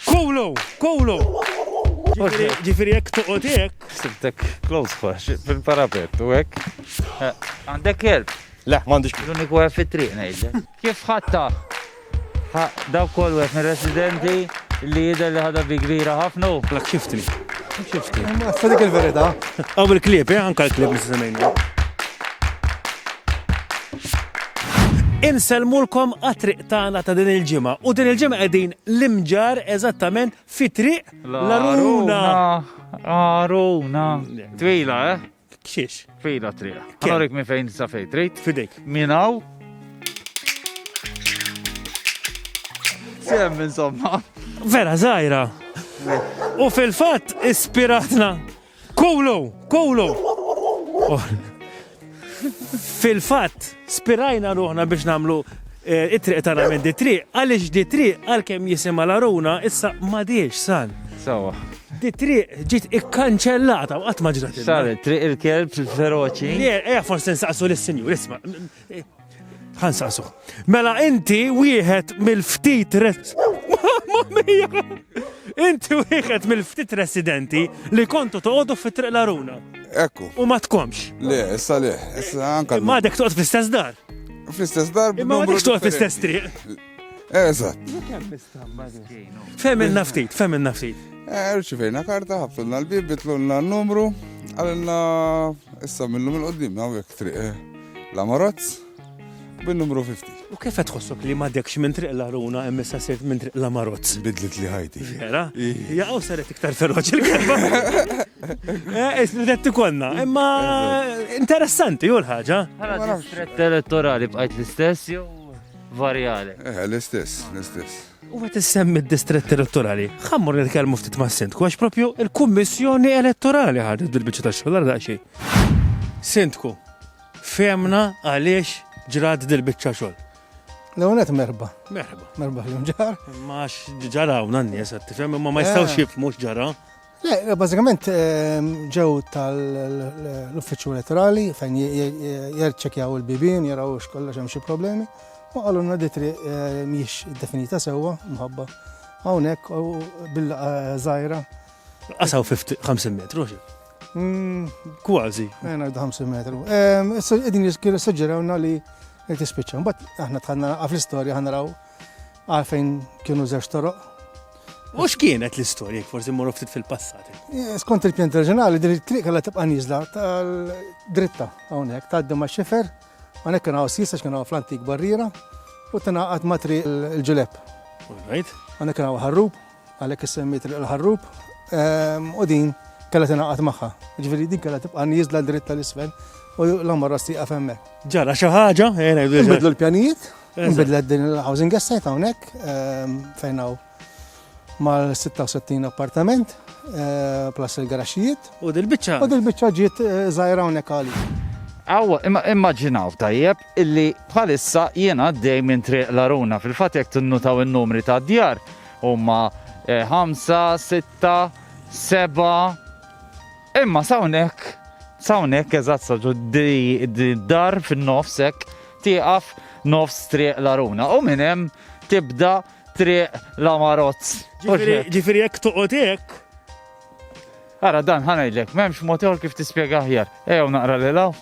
Kulu! Kulu! Ġifiri jek toqgħod hekk. Sibtek close fax, fil-parapet u hekk. Eh, għandek kelb? Le, m'għandix. L-uniku għef fit-triq ngħidlek. Kif ħatta? Daw kol għef minn residenti li jidher li ħadha bi kbira ħafna. Lak xiftni. Xiftni. Ma sadik il-verita. Għaw il-klib, eh, anka l-klib nissemejna. Insellmulkom għat-triq tagħna ta' din il-ġimgħa u din il-ġimgħa qegħdin l-Imġarr eżattament fi triq l-Għaruna. Għaruna. Twila, eh? Xiex? Twila triq. Għanorik minn fejn sa fejn trid? Fidejk. Minaw? Sem, insomma. Vera, zaħira. U fil-fat, ispiratna Kulu! Kulu! Fil-fatt, spirajna ruħna biex namlu eh, it-triq tagħna minn di triq, għaliex di triq għalkemm jisimha l-aruna issa m'għadiex san. Sawa. Di triq ġiet ikkanċellata u qatt ma ġrat. Saret, triq il-kelb, il-feroċi. Le, eja forsi nsaqsu lis-sinjur, isma'. Ħansaqsu. Mela inti wieħed mill-ftit Inti wieħed mill-ftit residenti li kontu toqgħodu fi triq l-aruna. Ekku. U ma tkomx. Le, issa le, issa anka. Ma dek toqgħod fl-istess dar. Fl-istess dar. Ma dek toqgħod fl-istess triq. Eżatt. Femilna ftit, femilna ftit. Eh, Rċivejna karta, ħafna l-bib, bitlunna n-numru, għalna issa minnum il-qoddim, għawek triq. Eh. L-Amarozz bin-numru 50. U kif qed tħossok li m'għadekx minn Triq l-Aruna hemm issa sirt minn Triq l-Amarozz? Bidlet li ħajti. Vera? Jaqgħu saret iktar feroċi l-kelma. Eh, Isnidet tikonna, imma interessanti hu l-ħaġa. Bħala distrett elettorali bqajt l-istess jew varjali? Eh, l-istess, l-istess. U għet semmi d-distrett elettorali, xammur nitkelmu ftit ma' sindku, għax propju il-Kummissjoni Elettorali ħadet bil-bicċa ta' xogħol għal daqxej. Sindku, Fehmna għaliex ġrat dil-biċċa xogħol. L-ewwel qed merħba. Merħba. Merħba fil ġar. Ma ġara hawn n-nies qed tifhem imma ma jistgħux eh. jifhmu x'ġara. Le, eh, bażikament ehm, ġew tal-uffiċċju elettorali fejn jerċekjaw il-bibien, jaraw x'kollox hemm xi problemi. U qalulna di triq eh, mhix definita sewwa mħabba. Hawnhekk bil żgħira. Qasaw 50 metru xi. Mm, kważi. Għena eh, 50 metru. Ehm, Din jiskir suġġerawna li tispiċċa. Bat aħna tħanna għaf l-istorja ħanraw għalfejn kienu zeċ toroq. U x'kienet l-istorja forsi morru ftit fil-passat? Eh, skont il-pjan reġjonali din it-triq għalla tibqa' niżla tal-dritta hawnhekk tgħaddi ma' xifer, hawnhekk kien hawn sisa x'kien hawn fl-antik barriera u tingħaqad ma' triq il-ġulep. Hawnhekk kien hawn ħarrub, Għalhekk is-semmiet Triq il-Ħarrub u din kellha tingħaqad magħha. Ġifieri din kellha tibqa' nieżla dritt tal-isfel u l-għamara stieqaf hemmhekk. Ġara xi ħaġa, ejna jdu. Nbidlu l-pjanijiet, nbidlet din il-housing estate hawnhekk fejn hawn mal-66 appartament plus il-garaxxijiet. U dil-biċċa. U dil-biċċa ġiet żgħira hawnhekk għalik. Aw, immaġinaw tajjeb illi bħalissa jiena għaddej minn triq l-aruna fil-fatt jekk tinnutaw in-numri ta' djar Huma ħamsa, sitta, seba'. Imma sawnek, sawnek eżatt sa d-dar fin-nofs hekk tieqaf nofs triq l-aruna u minn hemm tibda triq la marozz. Ġifiri jekk toqgħod hekk. Ara dan ħanajdlek, m'hemmx mod kif tispjega aħjar. Ejjew naqra li law,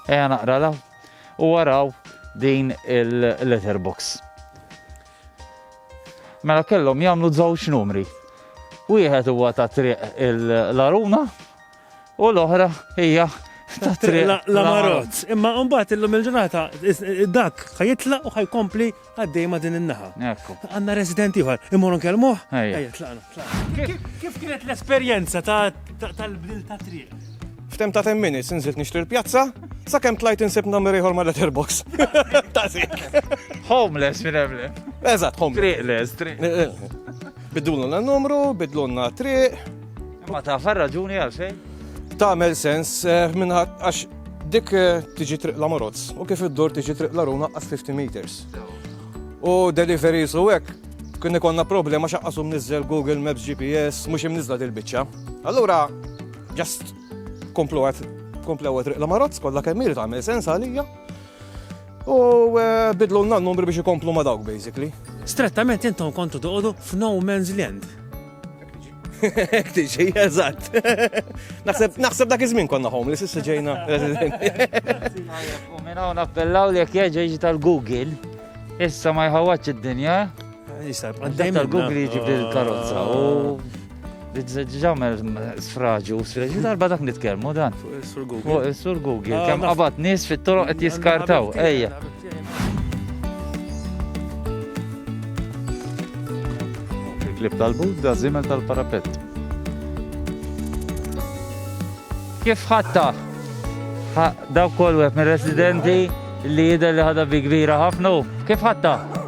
ejja naqra law u waraw din il-letterbox. Mela kellhom jagħmlu żewġ numri. Wieħed huwa ta' triq l-Aruna u l-oħra hija ta' triq l-Amarot. Imma mbagħad illum il-ġurnata dak ħajitlaq u ħajkompli għaddej ma' din in-naħa. Għandna residenti ieħor, imorru nkellmuh? Ejja, tlaqna. Kif kienet l-esperjenza tal-bdil ta' triq? F'tem ta' 10 minutes inżilt nixtri l-pjazza, sakemm tlajt insib number ieħor ma' letterbox. Ta' zik. Homeless minn emle. Eżatt, homeless. Triqless, triq. Eh, eh. Bidulna l-numru, bidlunna triq. Ma ta' far raġuni għal xejn? Tagħmel sens eh, minn għax dik tiġi triq la Morozz u kif id-dur tiġi triq la Runa għas 50 meters. U delivery su hekk kien ikonna problema xaqqasum nizzel Google Maps GPS mhux imniżla dil-biċċa. Allura Just komplu għat, komplu għat riqla marozz, kolla kemmir ta' għamil sens għalija. U eh, bidlu n numri biex ikomplu ma dawk, basically. Strettament intom kontu toqodu f'no man's land. Ek tiġi, eżatt. Naħseb dak iż-żmien konna homeless, issa ġejna residenti. U minn hawn appellaw li jekk jerġa' jiġi tal-Google, issa ma jħawwadx id-dinja. Dejjem Google jġib li l-karozza u ġamel sfraġu, sfraġu darba dak nitkelmu dan. Sur Google. Sur Google, ah, kem qabat nis fit-toroq qed jiskartaw, ejja. Il-klib tal-bud da zimel tal-parapet. Kif ħatta? Daw kol wieħed mir-residenti li jidher li ħadha bi kbira ħafna. Kif ħatta?